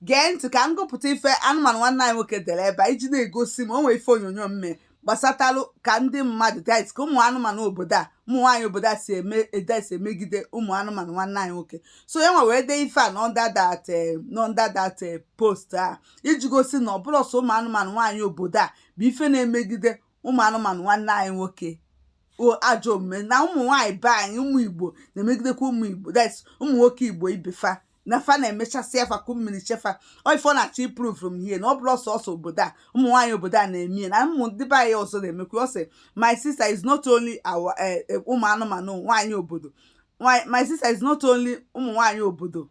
gee ntị ka m gụpụta ife anụmanụ nwanne anyị nwoke dere ebe a iji na-egosi m o nwee ife onyonyo m mee gbasatalụ ka ndị mmadụ that ka ụmụ anụmanụ obodo a ụmụ nwaanyị obodo a si eme edesi emegide ụmụ anụmanụ nwanne anyị nwoke so ya nwa wee dee ife a n'under that n'under that post a iji gosi na ọ bụrọ sọ ụmụ anụmanụ nwaanyị obodo a bụ ife na-emegide ụmụ anụmanụ nwanne anyị nwoke ajọ omume na ụmụ nwaanyị be anyị ụmụ igbo na-emegidekwa ụmụ igbo that's ụmụ nwoke igbo ibe fa na fa na-emechasịa fa ku mmiri che fa ọ ife ọ na-achọ ịprove from here na ọ bụrọ sọsọ obodo a ụmụ nwaanyị obodo a na-eme ya na ụmụ ndị be anyị ọzọ na-emekwa ọ sị my sister is not only our eh, eh, ụmụ anụmanụ nwaanyị obodo Nwaanyị- my sister is not only ụmụ nwaanyị obodo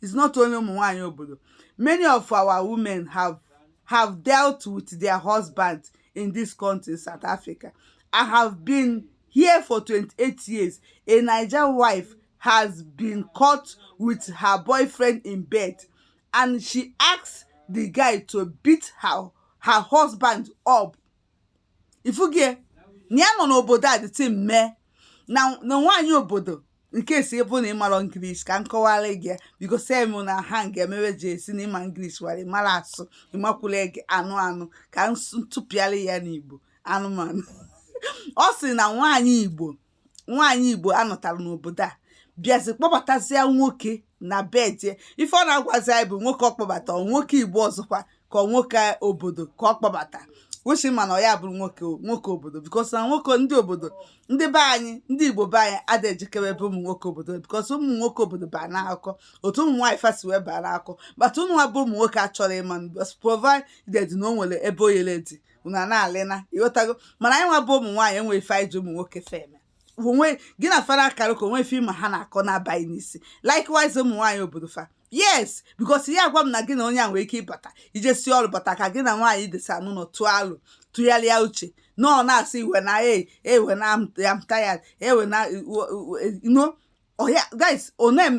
is not only ụmụ nwaanyị obodo many of our women have have dealt with their husbands in this country south africa i have been here for 28 years a naija wife has been caught with her boyfriend in bed and she asked the guy to beat her, her husband up. Ifugie, na ya nọ n'obodo a the time na nwaanyị obodo in case ọ bụ na ị marọ english ka m kọwara gị because em na ha ga-emewe ji esi na ịma english wara ịmara asụ ịmakwula gị anụ anụ ka m tụpịara ya n'igbo anụmanụ ọ sị na nwaanyị igbo nwaanyị igbo a nụtara n'obodo a bịazi kpọbatazia nwoke na be die ife ọ na-agwazi anyị bụ nwoke ọ kpọbata ọ nwoke igbo ọzọkwa ka ọ nwoke obodo ka ọ kpọbata which m ma na ọ ya bụrụ nwoke nwoke obodo because na nwoke ndị obodo ndị be anyị ndị igbo be anyị adịghị ejekarị ebe ụmụ nwoke obodo because ụmụ nwoke obodo baa n'akụkọ otu ụmụ nwaanyị fa si wee baa n'akụkọ but ụnụ nwa bụ ụmụ nwoke achọrọ ịma because provided na o nwere ebe oyele dị unu a na-alịna ịghọtago mana anyị nwa bụ ụmụ nwaanyị enwe ife anyị ji ụmụ nwoke fa eme onwe gị na fara akara ka o nwe ife ma ha na-akọ na-abaghị n'isi likewise ụmụ nwaanyị obodo fa yes because ya agwa m na gị na onye a nwere ike ịbata i jesi ọrụ bata ka gị na nwaanyị desa n'ụlọ tụọ alo tụgharịa uche na ọ na-asị wena wena am tired wena no oh yeah guys onem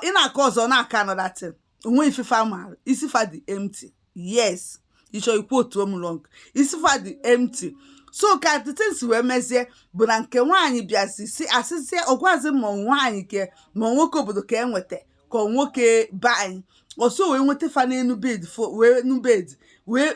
ị na-akọ ọzọ na-akọ another thing o nwe ife fa maara isi fa dị empty yes ị chọọ ị quote m wrong isi fa dị empty so ka the thing si wee mezie bụ na nke nwaanyị bịazi si asịzie ọ gwazi ma nwaanyị ke ma nwoke obodo ka e nweta ka nwoke be anyị ọsọ wee nweta fa n'enu bed wee nu bed wee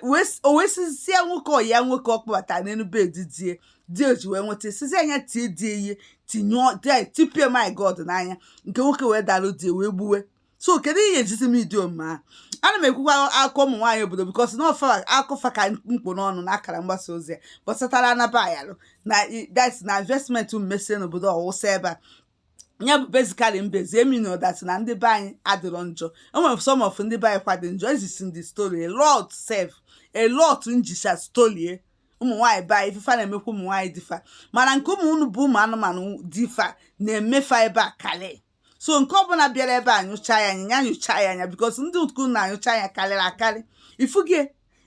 wee sizie nwoke ọya nwoke ọ kpọbata n'enu bed die di o ji wee nweta sizie a nya tie die ihe tinye tipie my god n'anya nke nwoke wee dalụ die wee gbuwe so kedu ihe ejizi m idi omume ahụ ana m ekwukwa akụkọ ụmụ nwaanyị obodo because na ọ fa akụkọ fa ka m kpụ n'ọnụ na akara mgbasa ozi ya gbasatara anaba ayalụ na na investment m mesi n'obodo ọwụsa ebe a ya bụ basically mbezi emino that na ndị be anyị adịrọ njọ enwere some of ndị be anyị kwa dị njọ ezisi ndị story a lot sef a lot m ji share story ụmụ nwaanyị be anyị ife fa na-emekwa ụmụ nwaanyị di fa mana nke ụmụ unu bụ ụmụ anụmanụ di fa na-eme fa ebe a kalị so nke ọbụla bịara ebe a nyụcha ya anya ya nyụcha ya anya because ndị uku na-anyụcha ya karịrị akarị ifugie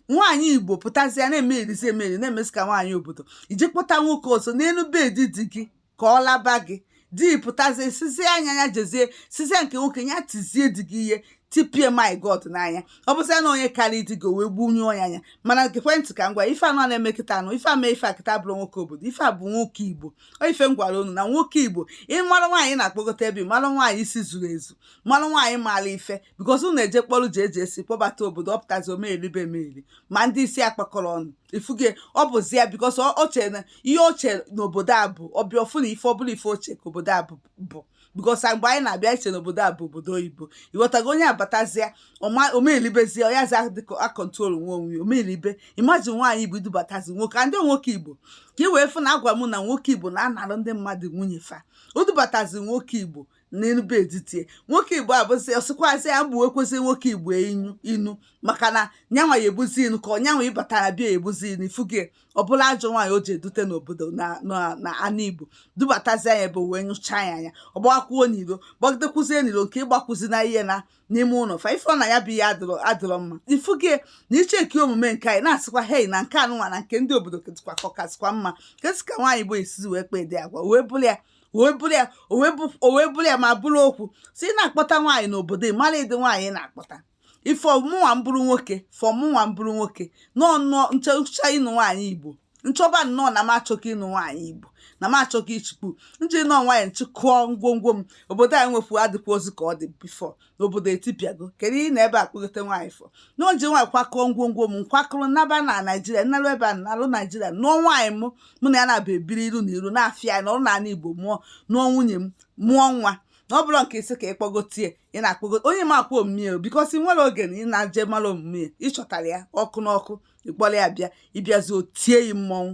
nwaanyị igbo pụtazie na-eme erizi emeri na-emesi ka nwaanyị obodo iji kpọta nwoke ọzọ n'elu bed di gị ka ọ laba gị di pụtazie sizie anya ya jezie sizie nke nwoke ya tizie di gị ihe tipie my god n'anya ọ bụzia na onye karịa di gị o wee gbunyụọ ya anya mana ekwentị ka ngwa ife a nọ na-eme kịta anụ ife ama ife a kịta bụrụ nwoke obodo ife a bụ nwoke igbo ife m gwara unu na nwoke igbo ị mara nwaanyị na-akpọgota ebe mara nwaanyị isi zuru ezu mara nwaanyị maara ife because unu eje kpọrụ ji eji esi kpọbata obodo ọ pụtazi o meribe ma ndị isi akpakọrọ ọnụ ifuge ọ bụzi ya because o che na ihe o che na obodo a bụ ọ bịa ọ fụ na ife ọbụla ife o che ka obodo a bụ because mgbe anyị na-abịa i che na obodo a bụ obodo oyibo ị ghọtago onye abatazia o melibezie ya za acontrol nwe onwe ya o melibe imagine nwaanyị igbo i dubatazi nwoke and nwoke igbo ka ị wee fụ na agwa m na nwoke igbo na-anarụ ndị mmadụ nwunye fa o dubatazi nwoke igbo n'enu bed di ya nwoke igbo abụzi ọ sịkwazị ya bụ ekwesị nwoke igbo inu maka na nyanwa ya ebuzi inu ka ọnyanwa ịbatara bịa ebuzi inu ifuge ọbụla ajọ nwaanyị o ji edute n'obodo na anụ igbo dubatazi anya ebe wee nyụcha ya anya ọ gbakwuo n'iro gbagidekwuzie n'iro nke ịgbakwuzi na ihe na n'ime ụlọ fa ife na ya bụ ihe adịrọ mma ifuge na ị checkie omume nke anyị na-asịkwa hei na nke anụnwa na nke ndị obodo ketikwa kọkasịkwa mma ketika nwaanyị igbo esizi wee kpee dị agwa wee bụrụ ya o wee bụrụ ya o wee bụ o wee bụrụ ya ma bụrụ okwu sị ị na-akpọta nwaanyị n'obodo ị mara ụdị nwaanyị ị na-akpọta if ọ mụnwa m bụrụ nwoke if ọ mụnwa m bụrụ nwoke nọọ nnọọ nchọcha ịnụ nwaanyị igbo nchọba nnọọ na m achọka ịnụ nwaanyị igbo na m achọghị ichukwu m ji nụọ nwaanyị m chịkọọ ngwongwo m obodo anyị nwefu adịkwazi ka ọ dị before na obodo etipịago kedu ihe na ebe a kpọgote nwaanyị for na o ji nwayọ kwakọọ ngwongwo m m kwakọrọ naba na naijiria m narụ ebe a nalụ naijiria nụọ nwaanyị m mụ na ya na-abụ ebiri iru na iru na-afịa ya na ọrụ n'ala igbo mụọ nụọ nwunye m mụọ nwa na ọ bụrụ nke isi ka ị kpọgotie ị na-akpọgote onye ị makwa omume ya because i nwere oge na ị na-eji mara omume ya ị chọtara ya ọkụ n'ọkụ ị kpọrọ ya bịa ị bịazi o tie yi mmọnwụ